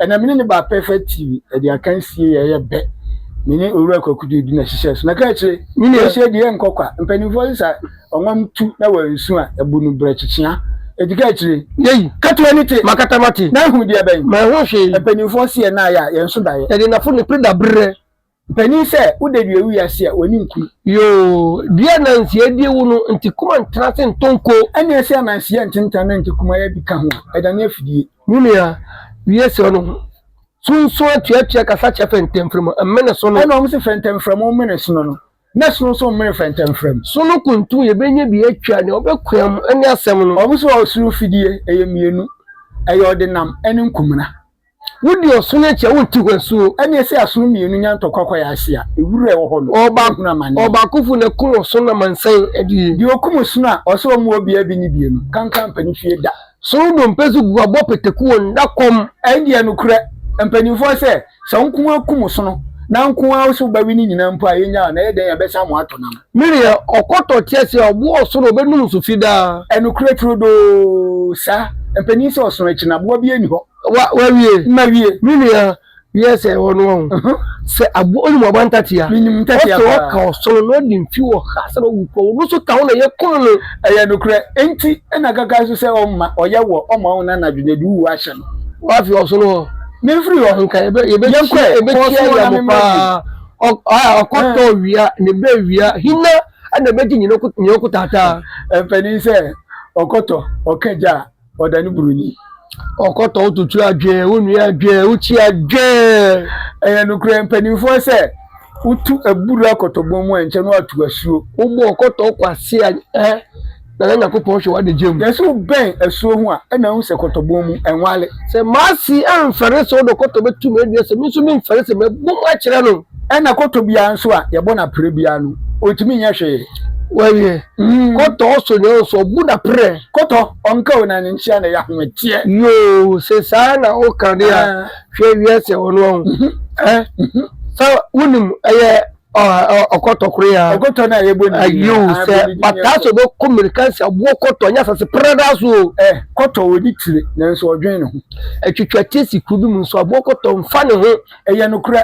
Ɛnna me ne no baa Perfect TV, ɛde akansie yɛ yɛ bɛ. Me ne Owura Kwaku Dudu na ɛhyehyɛɛ so. Na ka akyire, yɛhyɛ deɛ ɛnkɔ kwa. Mpanimfoɔ sesa ɔnwam tu na wɔansu a, ɛbu no berɛ kyekyea. Enti ka akyire. Yei. Ka to ani te. Makata mate. Na ahunu deɛ bɛn? Manhu hwee. Mpanimfoɔ se yɛn nan ayɛ a, yɛn nso da yɛ. Yɛde nnafo ne pere da berɛ. Panin sɛ wo da dua wi ase a w'ani nkuru. Yoo dua nanseɛ die wo no nti kuma ntena ase ntɔ nko. Ɛneɛ sɛ nanseɛ ntentan na nti kuma yɛ bi ka ho a ɛdane afidie. Me nua wie srɛ no ho sunsun atuatua kasa kyɛ fɛntɛmfrɛmu mmene sono. Ɛna wɔn se fɛntɛmfrɛmu mmene sono no na sono nso mmene fɛntɛmfrɛmu. Sono kuntu yɛbɛnya bi atwa nea ɔbɛkoam ne asɛm no. Wɔn se ɔsoro fidie ɛyɛ mmienu ɛyɛ ɔdenam ɛne nkumena. Wodi ɔsono akyi a, wonte hɔ asuo. Ɛnneɛ sɛ asono mmienu nya ntɔkwa kɔ yɛn ase a, ewura a ɛwɔ hɔ no, yɛbɛhunu amane. Ɔbaakofo na ɛko ɔsono amansan adie. Deɛ ɔkum ɔsono a, ɔsɛ ɔmmoa obiara bi ne bie no, kanka ampa ne fie da. Sono dompe so gu abɔ pataku wɔ nna kɔm. Ɛndeɛ nokorɛ, mpanimfoɔ sɛ, sɛ wo nko ara kum ɔsono, na nko ara wo sɛ wobɛwe ne nyinaa mpo a, yɛnnyaa wo, na ɛyɛ dɛn a, yɛbɛsan mo atɔ nam. Mereyɛ ɔkɔtɔ tease a ɔboa ɔsoro ɔbɛnum so fi daa. Nokorɛ turodoo saa. Mpanin sɛ ɔsono akyi no aboa biara nni hɔ. Wa, wawie? Mawie. Menua, wiɛ sɛ ɛwɔ no ɔho. Sɛ aboa, wonim aboa ntatea? Menim ntatea paa. Ɔsɛ ɔka ɔsono na ɔde mfi wɔ ha sɛ ɔwu kɔ, ɔno nso ka ho na yɛkum no. Ɛyɛ nokorɛ. Enti na kaka nso sɛ ɔmma, ɔyɛ wɔ, ɔmma wo na anadwo no ɛde wo wu ahyɛ no. Wafi ɔsono hɔ. Mefiri hɔ. Nka yɛbɛ, yɛbɛkyia, yɛbɛkyia yɛ mo paa. Ɔkɔtɔ wia ne bɛ wia hina na ɛbɛgye nyina ɔkotaataa. Mpanin sɛ ɔkɔtɔ ɔka gya a ɔda ne buroni. Ɔkɔtɔ wototo adwɛɛ wonua adwɛɛ wokyi adwɛɛ. Ɛyɛ nokorɛ mpanimfoɔ sɛ wotu abura kɔtɔbɔn mu a nkyɛ no atu asuo. Wobɔ ɔkɔtɔ kɔ ase a ɛ. na na Nyankopɔn hwɛ w'adagya mu. Na sɛ wobɛn asuo ho a, ɛna wohu sɛ kɔtɔbɔn mu, ɛnwale. Sɛ m'ase amfɛre sɛ ɔdɔ kɔtɔ bɛtu me adua, sɛ me nso memfɛre sɛ mɛbɔ mu akyerɛ no. Ɛna kɔtɔ biara nso a yɛbɔ no aprɛ biara no, ɔntumi nyɛ hwee. Wawie. Mm. Kɔtɔ ɔsɔ nyɛ ɔsɔ, ɔbu no aprɛ. Kɔtɔ ɔnka o na ne nkyea na ɛyɛ ahometeɛ. Yoo, sɛ saa na woka de a, ah. hwɛ wiase a wɔno ɔho. Mm -hmm. Eh? Mm -hmm. Sɛ wonim ɛyɛ. ɔkɔtɔ koro ya ɔkɔtɔ na yɛ bɔ ne din yiw sɛ pataa sɛ ɔbɛkɔ mmirika nsa boɔ kɔtɔ nyɛ asase prada so o ɛ kɔtɔ wɔ ne tire nanso ɔdwen ne ho atwitwa tie si kuro bi mu nso aboɔ kɔtɔ mfa ne ho ɛyɛ nokorɛ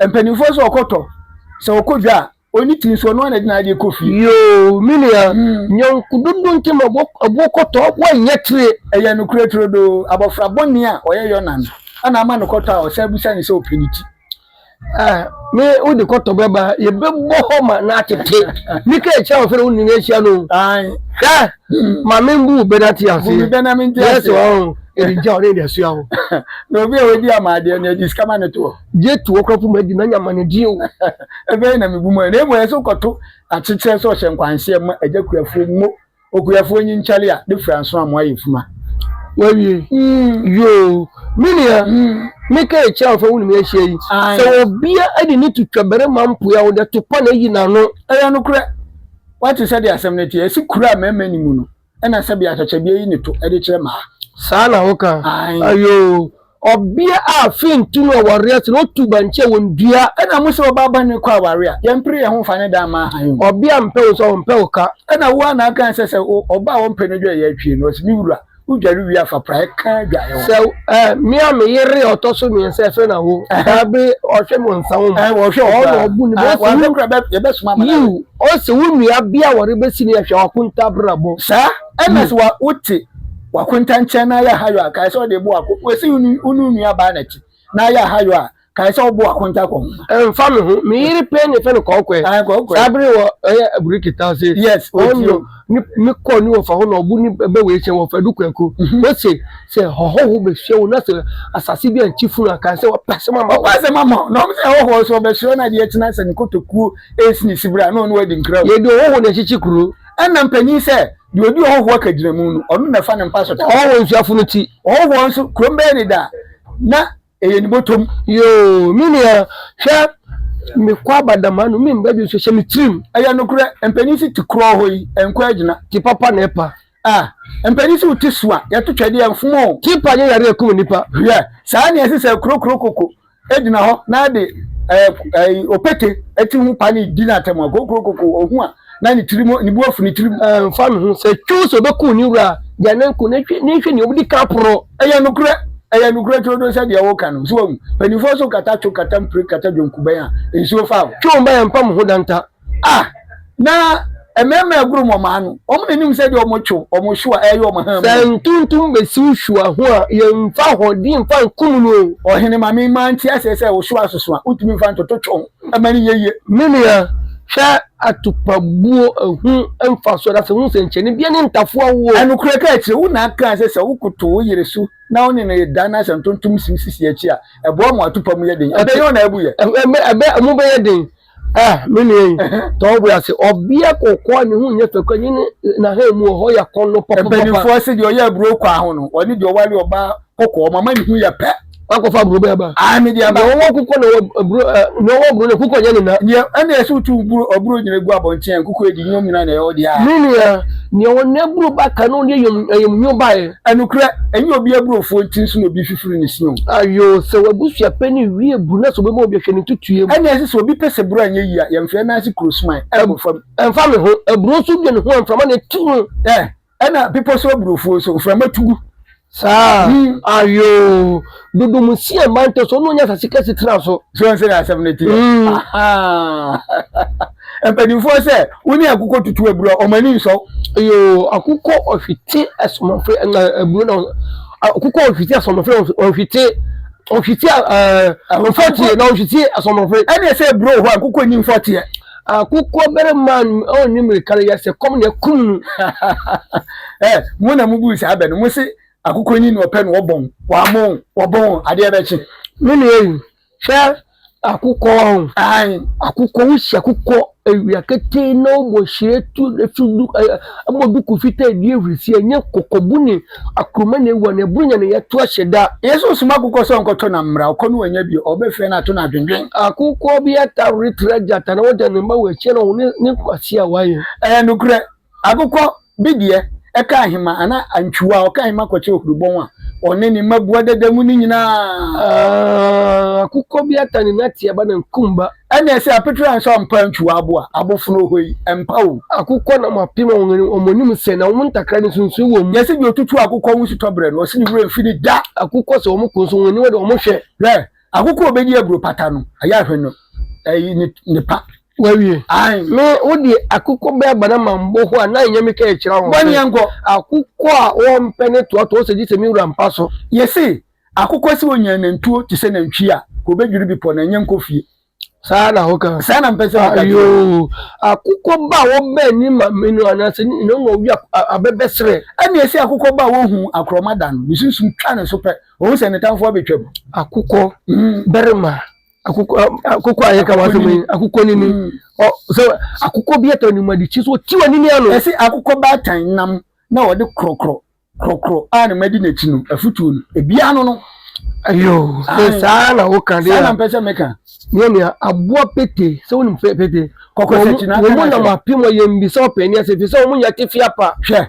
mpanimfoɔ sɛ ɔkɔtɔ sɛ ɔkɔ dwa a ɔni tiri nso ɔno anadina adeɛ kɔ fie yoo me nua hmm. nyɔnko dodo nti ma aboɔ kɔtɔ aboɔ nyɛ tire ɛyɛ nokorɛ turodoo abɔfra bɔne a ɔyɛ yɔnan ana ama no kɔtɔ a ɔsɛ abusa ne sɛ ɔpɛ ne ti Ah, me wo de kɔtɔ bɛba yɛbɛbɔ hɔ ma na atete ne ka akyia wɔ fɛ no wo nyina ahyia no hwɛ ma membu wo bɛna te ase yɛsɛ wɔ ho ɛde gya ɔne de asua wo na obi a wɔdi ama adeɛ no ɛde sika ma ne toɔ gye to ɔkora fo madi na nyama ne deɛ o ɛbɛyɛ na mebu mu na mmɔ ɛsɛ wokɔto akyekyerɛ sɛ ɔhyɛ nkwanhyɛ ma agya kuafoɔ mu Okuafoɔ nyi nkyale a ne fura nso amoa yɛ fuma. Wawie yoo me nua me ka akyire a wɔfa wone me ahyia yi sɛ ɔbea de ne to twa barima mpoeɛ a ɔde to pa na ayi n'ano. Ɛyɛ nokorɛ wate sɛdeɛ asɛm no teɛ ɛse kuro a mmarima nni mu no ɛna sɛbea atwakyɛdeɛ yi ne to de kyerɛ mmaa. Saa na woka ayoo. Ɔbea a afei ntu no ɔware ase na otu bankye a wondua. Ɛna mo sɛ ɔbaa bɔne kɔ aware a, yɛmpere yɛn ho mfa ne dan mma hann mu. Ɔbea a mpɛ wo nso ɔmpɛ wo ka. Ɛna wo ara na aka sɛ sɛ ɔbaa a wɔmpɛ no dwareɛ atwie no, ɔse, Me wura, wodware wie a fa praeɛ ka adwareɛ ho. Sɛ eh, me a me yere a ɔtɔ so mmiɛnsa ɛfɛ na wo daa bere ɔhwɛ me ɔnsa wo mu. Eh, ɔhwɛ wo koraa. Ɔna ɔbu ne bo. Ɔse wo kura yɛbɛsoma ama no awe. Yiw, ɔse wo nua bea a wɔrebɛsi no yɛ hwɛ ɔkontabrabɔ. Saa na sɛ wote. W'akonta nkyɛn na ayɛ ahayɔ a, kae sɛ ɔde bo akɔ. W'asi wo ne wo nuabaa no akyi na ayɛ ahayɔ a, kae sɛ ɔbo akonta kɔ ho. Ɛmfa me ho, me yere pɛn na yɛfrɛ no Kɔɔkɔɛ. Ae, Kɔɔkɔɛ. Saa bere wɔ ɛyɛ abureki ta se. Yes, ɔti o. Ɔno ne me kɔ ne wɔfa hɔ na ɔbo ne bɛ wei kyɛn wɔfa du kɔɛko. Ose sɛ hɔhɔho bɛhyia wo na sɛ asase bi ankye funu a, kae sɛ wɔpɛ asɛm ama wo. Wɔpɛ asɛm ama wo. Na wɔn sɛ hɔhɔho so ɔbɛhyerɛ wo na adeɛ kye na sɛ ne kotokuo ɛresi ne sibire a na ɔne wo adi nkra o. Yɛde ɔhɔho na ɛkyekye kuro. Ɛna mpanyin sɛ, Deɛ ɔdi ɔhɔhoɔ kagyinamu no, ɔno na ɛfa ne mpa so da. Ɔhɔhoɔ nso afono ti. Ɔhɔhoɔ nso kurom bɛyɛ ne da, na ɛyɛ ne bɔtɔm. Yoo, me nua, hwɛ, mekɔ aba dam ha no, me mma bi nso hyɛ me tirim. Ɛyɛ nokorɛ, mpanin si te korɔ hɔ yi, ɛnkɔ agyina. Te papa na ɛpa. Ah, mpanin si wo te so a, yɛto twɛdeɛ, ɛmfom o. Te pa nyɛ yareɛ a ɛkum nnipa. Hwɛ, saa na ɛsɛ sɛ ɛkorokoro koko gyina hɔ na de opete ti ho pa ne di n'atɛm a, kokurokoko, ohu a, na ne tirim, ne bu afu ne tirim. Ɛmfa no ho sɛ twiw sɛ obekum ne wura a, gyae no nko, na hwɛ, na hwɛ nea obedi kan poro. Ɛyɛ nokorɛ, ɛyɛ nokorɛ turodoo sɛ deɛ woreka no. So woahu? Mpanimfoɔ nso kata twiw, kata mpire, kata dwonkubɛn a nsuo fa wo. Twiw mma yɛmpa mo ho danta. A, na mmarima agurum wɔn ano. Wɔn na nim sɛdeɛ wɔn twe wɔn hwewa ɛyɛ wɔn han mu. Sɛ ntontom bɛsi wo hwewa ho a, yɛmfa ahoɔden mfa nkum no o. Ɔhene, ma me mma nte aseɛ sɛ wo hwewa soso a, wontumi mfa ntoto twe wo ho ma no nyɛ yie. Me nua, hwɛ atupabuo ɛho mfasoɔ na sɛ hu sɛnkyerɛnne biara ne ntafowa woɔ. Nokorɛ ka akyire wo, na kaa sɛ, sɛ wokoto wo yere so na wo ne no reda na sɛ ntontom si wo sisi akyi a, ɛboa ma w'atupam yɛ den. Ɛbɛyɛ wo na abu yɛ. Ɛbɛyɛ, ɛbɛyɛ, ɛmu bɛyɛ den. Eh, me nua yi, tɔ wo bo ase. Ɔbea kɔkɔɔ a ne ho nyɛ fɛ kura yi ne n'ahan mu wɔ hɔ yɛ kɔn no papa. Mpanimfoɔ se deɛ ɔyɛ aburo kwaa ho no, ɔne deɛ ɔware ɔbaa kɔkɔɔ mama ne ho yɛ pɛ. Wakɔfa aburo bɛɛ ba. Ae, mede aba. Deɛ ɔwɔ kɔkɔɔ na ɔwɔ aburo, deɛ ɔwɔ aburo no kɔkɔɔ nyɛ ne na. Deɛ ɛna ɛsɛ wotu aburo aburo nyina gu abɔnten a nkɔkɔɔ adi nyom nyina na ɛwɔ deɛ a. Me nua, deɛ ɔwɔ n'aburo ba ka na ɔde ayam ayam nyo baeɛ. Ɛnokorɛ, ɛnyɛ obi aburofuo nti nso na obi fifiri ne si o. Ayoo, sɛ w'abusua pɛ ne wie bu na sɛ obɛma obi ahwɛ ne ntutuiɛ mu. Ɛnna ɛse sɛ obi pɛ sɛ buro anyɛ yie a, yɛnfrɛ no ase kuro suman nkɔ fam. Ɛmfa me ho, aburo nso dua ne ho a mframa na ɛtu ho. Ɛɛ, ɛnna bepɔ so aburofuo nso, mframa tu gu. Saa? Ayoo, dodo mu si ɛmma ntɛ so, ɔno ɔnya asase kɛse tena so. So wonte deɛ asɛm no teɛ? Ahaa. Mpanimfoɔ sɛ wo ne akokɔ tutu aburo a, wɔn ani nsɔ. Yoo, akokɔ ɔhwete asomafre na aburo na akokɔ ɔhwete asomafre ɔhwete ɔhwete ɔfɔteɛ na ɔhwete asomafre. Ɛne sɛ aburo hɔ akokɔ nni mfɔteɛ. Akokɔ barima a ɔnni mmirika no yɛ sɛ kɔm na ɛkum no. Ɛ mo na mo buu saa bɛ no, mo se akokɔ nyi na ɔpɛ na ɔbɔn, wɔamɔn, wɔbɔn, adeɛ bɛkye. Me nua yi, Hwɛ akokɔ ɔn. Ae akokɔ wo si akokɔ awia ketee na wobɔ hyire tu ɛso du ɛ ɛbɔ duku fitaa ɛdi ahurisi ɛnyɛ kɔkɔbu ne akruma na ɛwura na ɛboro nya na yɛto ahyɛ da. Yesu soma akokɔ sɛ ɔnkɔtɔ nam mmra ɔkɔ no wannya bio ɔbɛfrɛ no ato no adwendwen. Akokɔ bi atawre tra gyata na ɔda ne mma wɔ akyire na ɔhunu ne nkwasea a wayɛ. Ɛyɛ nokorɛ Agokɔ bi deɛ, ɛka ahema anaa antwiwa a, ɔka ahema kɔkyɛ ohurubɔn a ɔne ne mma bua dada mu no nyinaa. Akokɔ bi ata ne nateɛ ba na nkum ba. Ɛnneɛ sɛ apetere ansa ɔmpa antwiwa abo a, abofono oho yi, ɛmpa o. Akokɔ nam apem a wɔn anim sɛ, na wɔn ntakra no nsunsuii wɔ mu. Yɛse deɛ ɔtutu akokɔ ho sutɔ berɛ no, ɔse ne werɛ mfi no da. Akokɔ sɛ wɔn ko nso, wɔn aniwa de wɔn hwɛ. Hwɛ! Akokɔ a ɔbɛdi aburo pata no, ayɛ ahwɛ no, ɛyi ne pa. Wawie. Ae. Me, wo deɛ akokɔ bɛɛ ba na ma mbɔ hɔ a, na ɛnyɛ me ka ɛkyerɛ wɔn. Bɔneɛ nkɔ. Akokɔ a wɔmpɛ ne toatoa sɛ gye sɛ me wura mpa so. Yese, akokɔ se onya nantuo te sɛ nantwie a, ka obedwiri bepɔ na ɛnyɛ nkɔ fie. Saa na ho ka. Saa na mpɛ sɛ ho ka kyerɛ. Ayoo. Akokɔ ba a wɔbɛn ne mame no anaa sɛ ne nyina ɔma ɔwia abɛbɛ serɛ. Ɛne ɛse akokɔ ba a wɔhu akorɔma da no, ne sunsum twa ne so pɛ, ɔhu sɛ ne tamfoɔ abetwam. Akokɔ, barima, akokɔ akokɔ a yɛka w'asɛm yi akokɔ nini mm. ɔ sɛ akokɔ bi atɔ anim adi kyi so ɔti wɔ nini ano. ɛsɛ akokɔ baatan nam na ɔde korɔkorɔ korɔkorɔ a na madi n'akyi no afutuo no ebiara no no. ayo sɛ saa na woka deɛ saa na mpɛ sɛ meka. nyɛ nea aboa pete sɛ wonim pete kɔkɔ sɛ kyina wɔn mu nam apem ɔyɛ mbisa ɔpɛni ase fi sɛ wɔn nyɛ tefia pa. hwɛ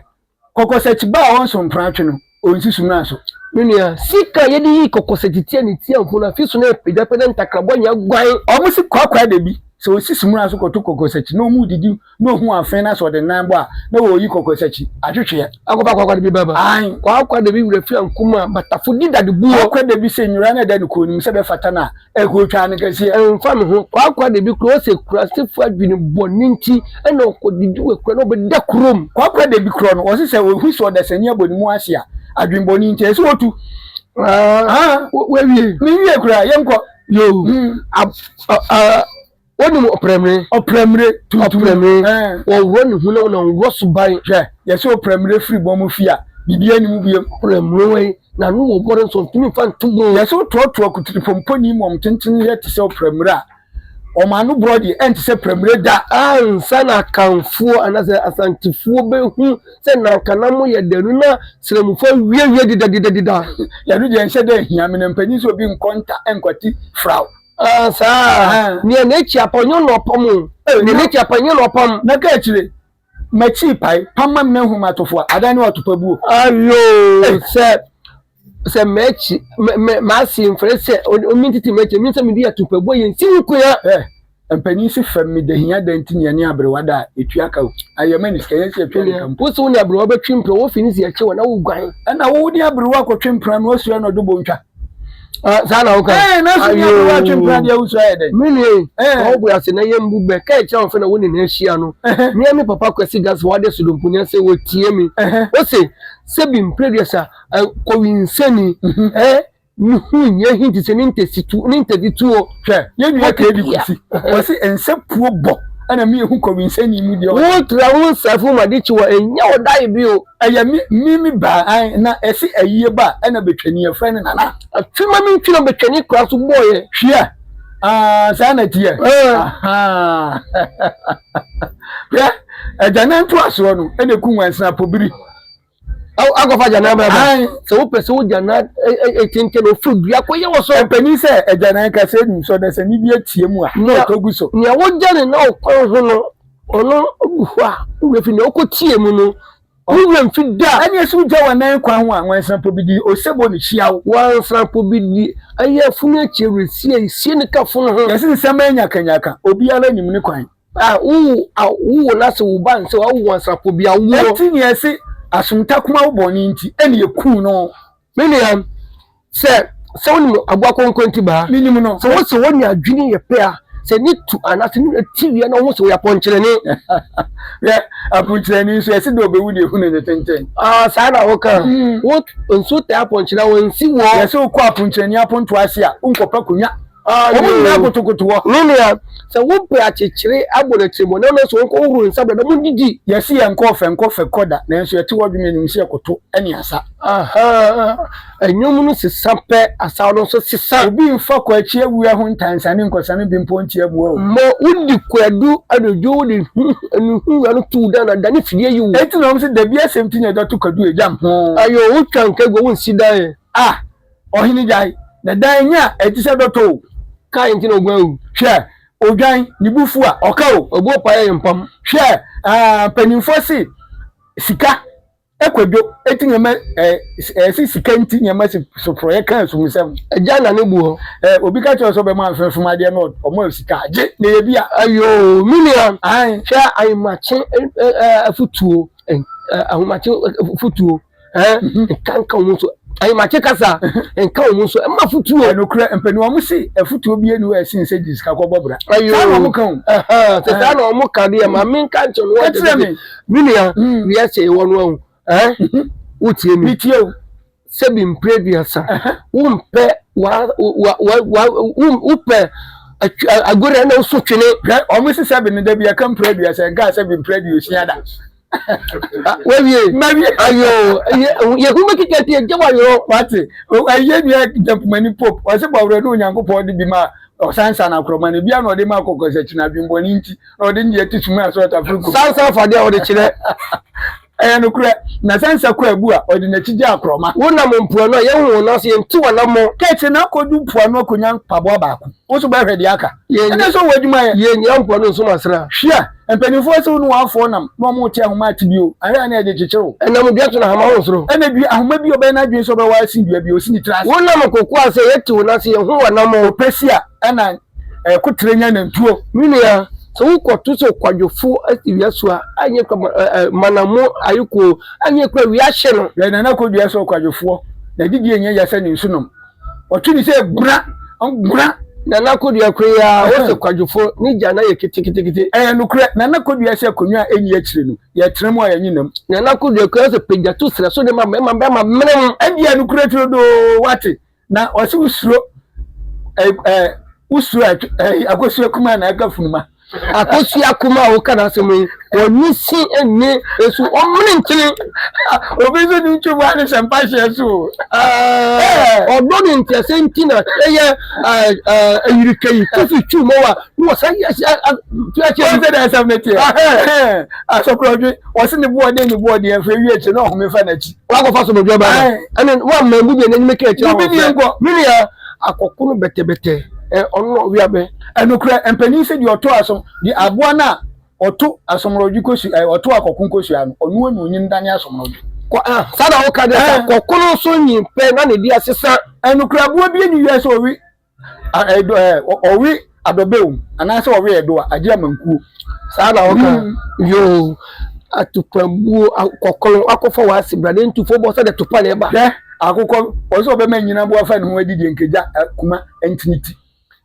Kɔkɔsɛkyi ba a ɔnso mpratwe no, onsi sumina so. Me nua, sika a yɛde yi kɔkɔsɛkyi tia ne tia ho no, afi so na ɛrepagyapagya ne ntakrabɔ nyɛ guan. Wɔsi kwaakwaɛ da bi, sɛ osi sumina so kɔto kɔkɔsɛkyi na wɔredidi na ohu afee na sɛ ɔde nan bɔ a, na wɔreyi kɔkɔsɛkyi atwetweɛ. Akɔpa kwaakwaɛ da bi ba ba. Ae. Kwaakwaɛ da bi werɛ fi ankum a, batafo di dade buo. Kwaakwaɛ da bi sɛ nnwura no da ne kɔn no mu sɛ ɛbɛfata no a, Ɛkotwaa no kɛseɛ. Ɛmfa me ho. Kwaakwa de bi korɔ sɛ kurasefo adwene bɔne nti na ɔkɔdidi wɔ akura na ɔbɛda kurom. Kwaakwa de bi korɔ no, ɔse sɛ ɔhu sɛ ɔdasani abɔ ne mu ase a, adwene bɔne nti, ɛsɛ sɛ ɔtu. Haa, wawie. Menwie koraa, yɛnkɔ. Yoo, ab, ah, ah. wonim ɔprɛmire ɔprɛmire tuntum ɔprɛmire wɔworɔ ne ho na wɔnam worɔ so ban hwɛ yɛsɛ ɔprɛmire firi bɔ mo fi a biribi anim biem ɔprɛmire wei na no wɔ bɔre nso ntumi mfa nto bɔ yɛsɛ wotoatoa akutiripɔmpɔni mu ɔm tenten yɛ te sɛ ɔprɛmire a ɔm ano borɔ deɛ ɛnte sɛ prɛmire da ansa na akanfoɔ anasɛ asantefoɔ bɛhu sɛ nanka na mo yɛ danu na srɛmufoɔ awiawie dedadedadeda yɛno deɛ nhyɛ dɛ hia me na mpanyin sɛ obi nkɔ nta nkwati fraw Ah, saa. Eh. Nea n'akyi apɔ nyɛ na ɔpam o. Eh, Nea na- n'akyi apɔ nyɛ na ɔpam. na ka akyire makyi pae pama m na hu matofo a adan ne watopa buo Ayo Eh. sɛ sɛ m'akyi mɛ- mɛ- m'ase mfrɛ sɛ o- omi ntete m'akyi mi sɛ mede atupabuo yɛ nsi wo kua. Eh, mpanin si fam me dahia dan nti nea ne aberewa da a ɛtua ka o ayɛ ma ne sika yɛn sɛ ɛtua ne ka mpo Wo se wo ne aberewa bɛtwe mpira wɔfi ne si akyi wɔ na woguan. ɛna wo ne aberewa akɔtwe mpena no asua na ɔdwo bɔ ntwa saa na woka ɛɛ na so nyɛ wo atwe mpira deɛ wosɔ ayɛ dɛ me nua yi ɔbu ase na yɛ mbu bɛ kɛɛ kyerɛ ɔfɛ na wo ne na ahyia no mea me papa kwasi gas wɔ ade sodompo nya sɛ wɔtie mi wo se sɛ bi mpreduasa kɔwi nsɛni ɛɛ mehu nyɛ hi te sɛ ne ntɛsi tu ne ntɛdi tuo hwɛ yɛ nua kɛɛ di kwasi wɔsi nsɛ puo bɔ ɛna mi ehu kɔwi nsɛni mu deɛ wo tra wo nsɛfo ma de kyi wɔ ɛnyɛ ɔdae bi o Ɛyɛ me me me baa an na ɛse ayie ba a ɛna bɛtwani ɛfrɛ no nana. Afe ma me ntwi na bɛtwani kora so bɔɔyɛ. Hwia aa saa na tiɛ ahaa hwɛ agyanan to asoɔ no ɛna ɛku nwansena pobiri. Akɔfa agyanan bra bra sɛ wopɛ sɛ wogyanan ɛkyenkyen ofiri dua kɔ yɛ wɔ so. Ɛpɛni sɛ agyanan ka sɛ nim sɔ na sɛ ne bi atie mu a na ɔtɔ gu so. Nea wogyane na ɔkwan ho no. Ɔno gu hɔ a, wo werɛ fi nea ɔkɔtiee mu no, wo werɛ mfi da. Ɛne ɛso wogya w'anan kwan ho a, nwansampɔ bi di, osebɔ no hyia wo. Nwansampɔ bi di, ɛyɛ afunu akyi awerɛsie, esie ne ka funu ho. Yɛse nsɛmma nyakanyaka, obiara nim ne kwan. A, wowo a, wowo na se wo ba nse a, wowo nwansampɔ bi a, woɔ. Enti nea ɛse asomtakoma wo bɔne nti, ɛne ɛkuu no. Me nua, sɛ sɛ wonim aboa kɔnkɔn ti baa. Menim no. Sɛ wo sɛ wɔn ne adwene yɛ pɛ a, sɛ ne tu anaasɛ ne wura ti wia na wohu sɛ wɔyɛ apɔnkyerɛni. Yɛ apɔnkyerɛni nso ɛsɛ dɛ ɔbɛwu deɛ hunu ne tenten. Ah, saa na woka. Mm. Wo nso taa apɔnkyerɛ a wɔnsi wɔ. Yɛ sɛ wokɔ apɔnkyerɛni apontoɔ ase a, wonkɔpɛ akonnwa. wɔn nyinaa kotokoto hɔ ne nea sɛ wopɛ akyekyere abɔ n'akyiri mu na ɔno nso wɔnkɔ wohoro nsa brɛ na mo didi. Yɛsi yɛn nkɔ ɔfɛ nkɔ fɛ kɔ da nanso yɛte hɔ dwene anim sɛ yɛkoto ne asa. Ahaa nnwom no sesa pɛ asaw no nso sesa. Obi nfa kɔ akyi awia ho ntansa ne nkɔsa no bi mpo ntia mua o. Mɔ wodi kwadu anadwo wode anu ho wura no tow dan na da ne fidie yi wo. Enti na wɔn se dabi asɛm ti na ɛda to kwadu a egya mpo. Ayoo wotwa nka gu a wonsi dan ɛ ah. Ɔhene gyae, na dan nya a ɛte sɛ dɔtɔ o. Kae nti na oguan o. Hwɛ, odwan, ne bo fuw a, ɔka o. Obu ɔpae a yɛmpam. Hwɛ, ah, mpanyimfo se sika, eh, kwadwo, eti nneɛma, eh, eh, se sika nti nneɛma si so porɔeɛ ka asumisɛm. Agya nna ne bo hɔ. Eh, obi ka kyerɛ wo sɛ ɔbɛma mfɛmfɛm adeɛ na ɔma wo sika a, gye, na ɛyɛ bi a. Ayoo, me nua, hwɛ ahomakye, eh, eh, afutuo, eh, eh, ahomakye afutuo. nka nka wɔn so ayimakye kasa nka wɔn so ɛma futuo. ɛnukurɛ mpanyinwa wɔn si ɛfutuo bie ni wɔ ɛsin sɛ jisika kɔ bɔ bra. ayo saa na wɔn ka o. sɛ saa na wɔn ka deɛ maame nka nkyɛn wɔn ɔtɛ tɛ mi nua wia sɛ ɛwɔ no ɛho ɛɛ wotie mi. mi tie o. sɛbi mpire duasa wɔn pɛ wa wa wa wa wɔn pɛ agorɔ ɛna nso twene. wɔn sisɛ bi ni dɛbi ɛka mpire duasa ɛka sɛbi mpire duosia da. wɛwie mɛwie ayo yehu bɛ kika tie gye wayo wate ɛyɛ nua jampumani pop ɔsɛ bɔ awurɛ ne onyankopɔn de bi ma ɔsansa na akorɔma no bia na ɔde ma akɔkɔ sɛ kyina adwembɔne nti na ɔde ndeɛ te sum asɔ ɔtafere gu sansa afadeɛ a ɔde kyerɛ ɛyɛ nokorɛ na sansa kɔ abu a ɔde n'akyi gye akorɔma wonam mpoano a yɛhu wo nanso yɛnte w'anammɔ kɛkye na akɔdu mpoano akɔnya mpaboa baako wo so bɛhwɛ deɛ aka ɛnɛ sɛ wɔ adwuma yɛ yɛnyia mpoano nsom asra hwia Mpanyimfo asiw no wɔafow nam na wɔrete ahoma ate bio, ahwɛ a na ɛde kyekyere wo. Ɛnam dua to na ahoma ho soro. Ɛna dua, ahoma bi a ɔbɛyɛ n'adwene sɛ ɔbɛware asen dua bi a osi ne tiri ase. Wonam kokoa sɛ yɛte wo nan sɛ yɛhu w'anammɔn. Ɔpɛsia ɛna ɛkoterɛ nya nantuo. Me nua, sɛ wokɔto sɛ ɔkwadwofo asi wia so a, anyɛ kwa ma ɛ ɛ manammo ayɛ koo, anyɛ kwa wia ahye no. Yɛ nana kɔdua sɛ ɔkwadwofoɔ, n'adidie nyɛ ya sɛ ne nsunom. Ɔto bi sɛ gura gura. Nana Kodua kura yi ara wo sɛ kwadwofo ne gya na yɛ keteketekete. Ɛyɛ nokorɛ Nana Kodua sɛ akonnwa a ɛnni akyire no yɛtena mu a yɛnye nam. Nana Kodua kura sɛ pagya to serɛ so de ma mmarima mmarima menem. Ɛdeɛ yɛ nokorɛ turodoo wate na ɔse wo suro ɛɛ wo suro akosua kumaa na ɛka funuma. Akosua Kumah a woka n'asɛm yi, ɔnye si nye esu, ɔmene nkyene. Obi nso ne ntwi bua ne sɛ mpa hyɛ so. Ɔdɔ ne ntease nti na ɛyɛ ayirika yi kofi twi mɔ wa ne wɔ sɛ yɛsi akyɛ. Wɔn sɛ de asɛm ne teɛ. Asɔkorɔdwe wɔsi ne boɔ den ne boɔ deɛ nfa ewie akyi na ɔhome fa n'akyi. Wakɔfa sɔmɔdwa ba ɛne wa mma ebu deɛ n'anim kɛ akyi ahɔ. Mene akɔkono bɛtɛbɛtɛ ɔno na ɔwea bɛ. Nokorɛ mpanin sɛ deɛ ɔto asom, deɛ aboa no a ɔto asomrɔdwe kɔsu, ɛɛ, ɔto akɔko nkɔsua no, ɔno ara na ɔnyini dane asomrɔdwe. Kɔ, ah, saa na woka deɛ sɛ akɔko no nso nyi pɛ na ne deɛ sesa. Nokorɛ aboa bi nni wiase a ɔwe, ah, ɛdɔ, ɛɛ, ɔwe adɔbɛ wɔ mu, anaasɛ ɔwe ɛdɔ a, agye amankuo. Saa na woka, yoo, atupabuo, akɔko no, wakɔfa w'ase bra, ne ntufoɔ bɔ sɛdeɛ topa na ɛba. Hwɛ, akokɔ, ɔsɛ ɔbɛma anyini aboa fa ne ho adi deɛ nka gya, eh, kuma, ntini ti.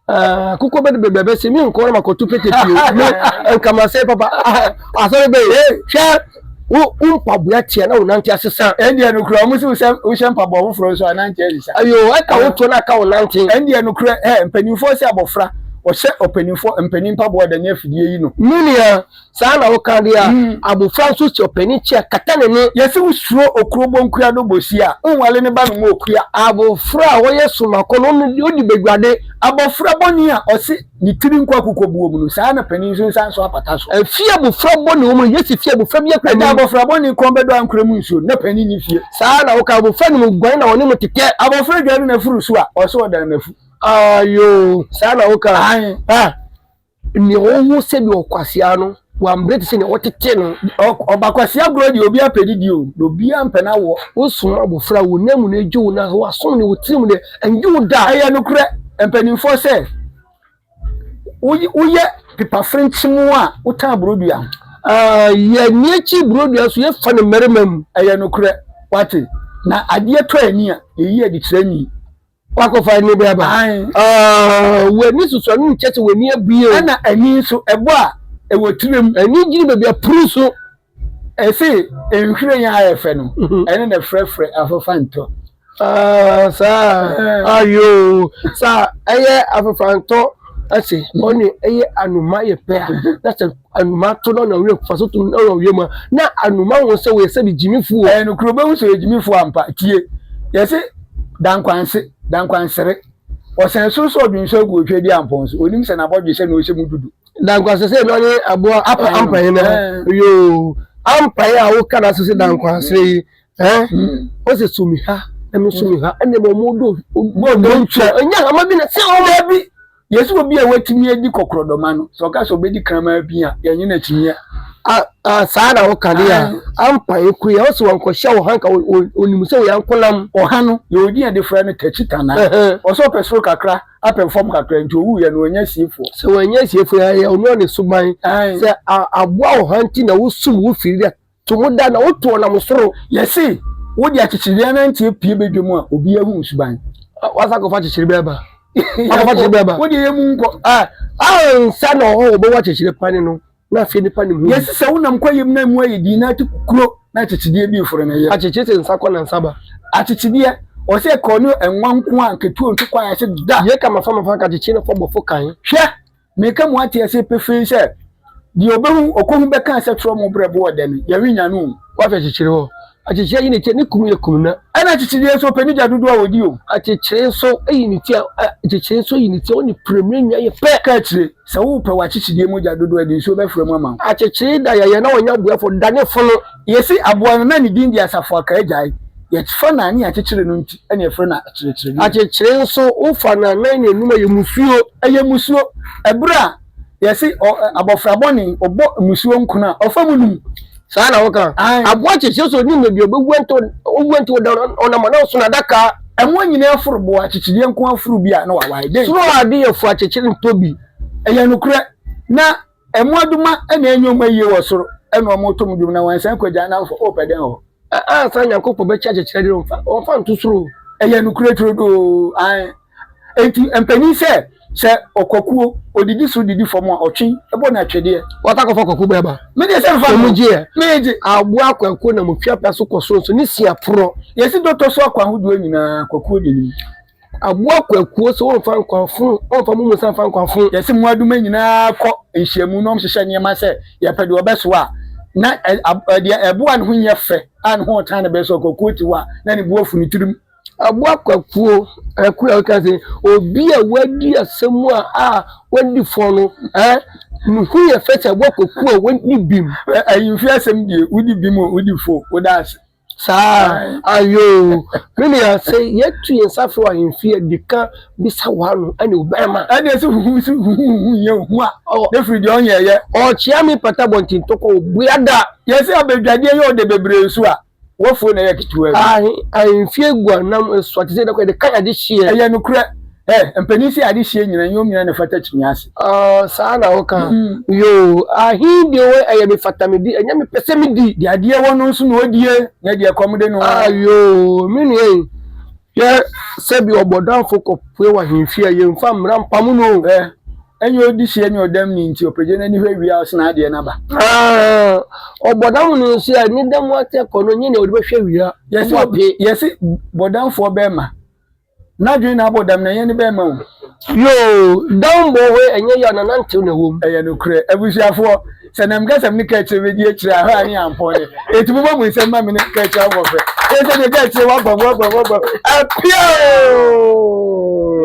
Ah, kuko bɛ de bɛ bɛ se min kɔrɔ ma ko tu pete pio ne kama se papa a sɔrɔ bɛ ye hwɛ wo wo mpaboa teɛ na wo nante ase sa ɛndeɛ no kura ɔmo se wohyɛ wohyɛ mpaboa foforɔ nso anante ase sa ayo ɛka wo to na ka wo nante ɛndeɛ no kura ɛ mpanimfoɔ sɛ abɔfra ɔhyɛ ɔpanimfoɔ mpanin mpaboa da ne afidie yi no menua Saa na woka de a, abofra nso si ɔpanin kyi a kata n'ani. Yɛse wosuro okuro bonkua do bosi a, wonwale ne ba no mu okua. Abofra a ɔyɛ somakɔ no, ɔno deɛ odi badwade. Abofra bɔne a ɔse ne tiri nkɔ akokɔbuo mu no, saa na panin nso nsa nsɔ apata so. Fie a abofra bɔne wɔ mu no, yɛse fie a abofra biara kura nim. Agya abofra bɔne kɔn bɛdɔ a nkura mu nsuo no, na panin nni fie. Saa na woka abofra nim guan na ɔne mu tetɛ. Abofra dwane n'afuru so a, ɔse ɔdan n'afu. Aayoo, saa na woka. Aane. Ah. Nea ɔwɔ sɛdeɛ ɔkwasea no wambrɛ te sɛ nea wɔtete no. Ɔbakwasea korɔ deɛ obiara pɛ didie o, na obiara mpɛ n'awoɔ. Wosum abɔfra a, wo nan mu na ɛgye wo nanso w'asom ne wo tirim deɛ, ɛngye wo da. Ɛyɛ nokorɛ mpaninfoɔ sɛ, woyɛ pepa frenkyem a, wotã borodua. Yɛ nni akyi borodua nso, yɛ fa no mmarima mu. Ɛyɛ nokorɛ, woate, na adeɛ tɔ ani a, yɛyi adi kyerɛ ani. Wakɔfa ani bɛ aba. W'ani susua no nkyɛ sɛ w'ani abue o. Ɛna ani nso ɛbɔ a ɛwɔ tirim. Ani gyina baabi a puru so. Ɛse nhwiren a ayɛ fɛ no ɛne na frɛfrɛ afofantɔ. Saa ayoo saa ɛyɛ afofantɔ ɛse ɔne ɛyɛ anoma yɛ pɛ a na sɛ. Anuma to na ɔnam wura kufa so to na ɔnam wiem a, na Anuma hu sɛ wɔyɛ sɛ gyimifo o. Ɛyɛ nokorɛ, wobɛhu sɛ ɔyɛ gyimifo ampa. Tie! Yɛse, Dankwanse, Dankwansere, ɔsɛn soro sɛ ɔdwen sɛ ɔgu Otwa Aduampɔn so, ɔnim sɛ n'abɔdwe sɛ na ɔhyɛ mu dudu. Dankwanse sɛ na ɔne aboa apa ampa yi no ho, yoo, ampa yi a woka no ase sɛ Dankwansere yi, eh, ɔse so mi ha na me nso mi ha, ɛnna mmom wɔde ɔdɔ, ɔdɔ ntwa, ɔnya hama bi na sɛ ɔma bi. Yɛse obi a watumi adi kɔkorɔdɔma no, sɛ ɔka sɛ ɔbɛdi kraman pii a, yɛnye no akyinnye a. Saa na woka de a, ampa ɛkue a, ɔse wankɔhyɛ ɔha nka ɔnim sɛ ɔyɛ ankonam. Ɔha no, deɛ ɔdi a defra no takyi tana. Ɔse ɔpɛ soro kakra, apɛ fam kakra, nti ɔwuiɛ no, wannya asiefoɔ. Sɛ wannya asiefoɔ a, ɛyɛ ɔno ne suban. Sɛ aboa ɔha nti na wosum wo firi dɛ To mo da na woto ɔnam soro. Yɛse wode akyekyerebe anante apue badwa mu a obi ahu wo suban. Wasa kɔfa akyekyerebe aba. Akɔfa akyekyerebe aba. Wode yɛ mu nkɔ. Ansa na ɔhɔ wɔbɛwɔ akyekyere pane no na afei nipa nim ho. Yɛse sɛ wonam kwayam na emu ayɛ din na ate kukuro na akyekyedeɛ bi foro ne yam. Akyekye se nsa kɔ na nsa ba. Akyekyedeɛ ɔse ɛkɔɔ ne ɛnwa nko a nketewa ntu kwan ase da. Yeka mafa mafa nka akyekye no fɔ bɔfo kan. Hwɛ! Meka mu ate ase pefee sɛ, deɛ ɔbɛhu ɔkɔhu bɛka sɛ torɔ mo berɛ boɔ dɛ no, yɛrenya no o. Wahwɛ kyekyere hɔ. Akyekyere ayi ne ti a, ne kum yɛ kum na. Ɛna akyekyereɛ nso ɔpɛ ne gya dodoɔ a ɔdi o. Akyekyere nso ayi ne ti a, akyekyere nso ayi ne ti a, ɔne prɛmire nya yɛ pɛ. Ka akyire sɛ wopɛ w'akyekyedeɛ mu gya dodoɔ a, ɛde nsuo bɛfra mu ama wo. Akyekyere da yɛyɛ na ɔnyɛ aboɛfoɔ, da ne fono. Yesi aboa no na ne din de Asafo Akaagyae. Yɛfa no anan a akyekyere no nti na yɛfrɛ no Akyerekyereni. Akyekyere nso, wofa no anan na anum a ɛyɛ musuo. Ɛyɛ musuo. Ɛberɛ a yɛse abɔfra bɔne, ɔbɔ musuo nkono a, ɔfa mu num. Saa na woka? Aane. Aboa kyekyere sɛ ɔnim baabi a ɔbɛwu anto, ɔwu anto ɔda hɔ na ɔnam anaa ɔsono adaka. Ɛmmoa nyinaa aforo boɔ, akyekyedeɛ nko ara foro bi a na wawae. Dɛn? Soro adeyɛfoɔ akyekyere ntɔ bi. Ɛyɛ nokorɛ. Na Mmoadoma na ɛnyɛ wɔn ayie wɔ soro na wɔreto mo dwom na wɔansan kɔ agya namfo o pɛ dɛn hɔ. A ansa Nyankopɔn bɛkyɛ akyekyerɛ de ɔmfa ɔmfa nto soro o. Ɛyɛ nokorɛ turodoo ae. Enti mpanin sɛ sɛ ɔkwakuo ɔdidi soro didi fam a ɔtwe bɔ no atwedeɛ. Wɔtaa kɔfa kwakuo bɔ ɛba. Me deɛ sɛ mfa mma o. Wɔn gyeɛ. Me gye. Aboa kwakuo nam otwi apɛ so kɔ sonso ne sia porɔ. Yɛsi dɔ tɔ so akwan hodoɔ nyinaa kwakuo denim. Aboa akuakuo so wɔmfa nkwa funu wɔmfa mo mu nsa mfa nkwa funu. Yɛsi mmoadoma nyinaa kɔ nhyiamu na wɔhyehyɛ nneɛma sɛ yɛpɛ deɛ ɔbɛsoa a na deɛ ɛboa ne ho nyɛ fɛ a ne ho ɔtan ne bɛso akuakuo ti hɔ a na ne boɔ funu tirim. Aboa akuakuo akuo a ɔka sɛ obi a wadi asɛm a a wadi fɔ no ɛɛ ne ho yɛ fɛ sɛ aboa akuakuo a wadi bim. Ɛyi mfi asɛm die wodi bim o wodi fo woda ase. Saa ayoo me nua sɛ yɛtu yɛn nsa frɛ w'ahemfie a di kan bisa w'ano ɛne ɔbɛrima. Ɛne ɛsɛ huhu si huhuhu yɛ ohu a ne firi deɛ ɔnyɛ yɛ. Ɔkyea me pata abɔnten tɔkɔ obua da. Yɛse abadwadeɛ yɛ ɔdɛ bebree nso a wafuo na ɛyɛ ketewa bi. Ahe ahemfie guanam ɛsoa te sɛ dɛ kɔ yɛde kan ade hyeɛ. Ɛyɛ nokorɛ. Eh, mpanin se ade sie nyina, nyɛ omina na ɛfata kyiniiɛ ase. Ah, saa na woka? Mm. Yoo, ahe deɛ wɔ ɛyɛ me fata me di, ɛnyɛ me pɛ sɛ me di. Deɛ adeɛ wɔ no nso na ɔdie, nyɛ deɛ kɔm de no. Ah, yoo, me nua yi, hwɛ sɛ bi ɔbɔdamfo kɔpue wɔ ahemfie a, yɛmfa mmara mpamo no o. Eh. Ɛnyɛ ɔdi sie ne ɔdam ni nti ɔpagya n'ani hwɛ wie a ɔsene adeɛ no aba. Ah, ɔbɔdam no nso a, ne dam atɛ kɔ no, nyɛ nea ɔde bɛhwɛ wie a, yɛse bɔdamfoɔ bɛrima N'adwene na abɔ dam, na yɛn ne bɛn ma o. Yoo, dam bɔ we, ɛnyɛ yaw na nantew na ɛwom. Ɛyɛ nokorɛ, abusuafoɔ, sɛ na mekasa me ne kaakyire bɛdi akyire a, hɔ a ne ampɔn deɛ. Enti momma mo nsam mma me ne kaakyire abɔ frɛ. Ɛyɛ sɛ deɛ kaakyire wɔ abam, wɔ abam, wɔ abam, apia oo!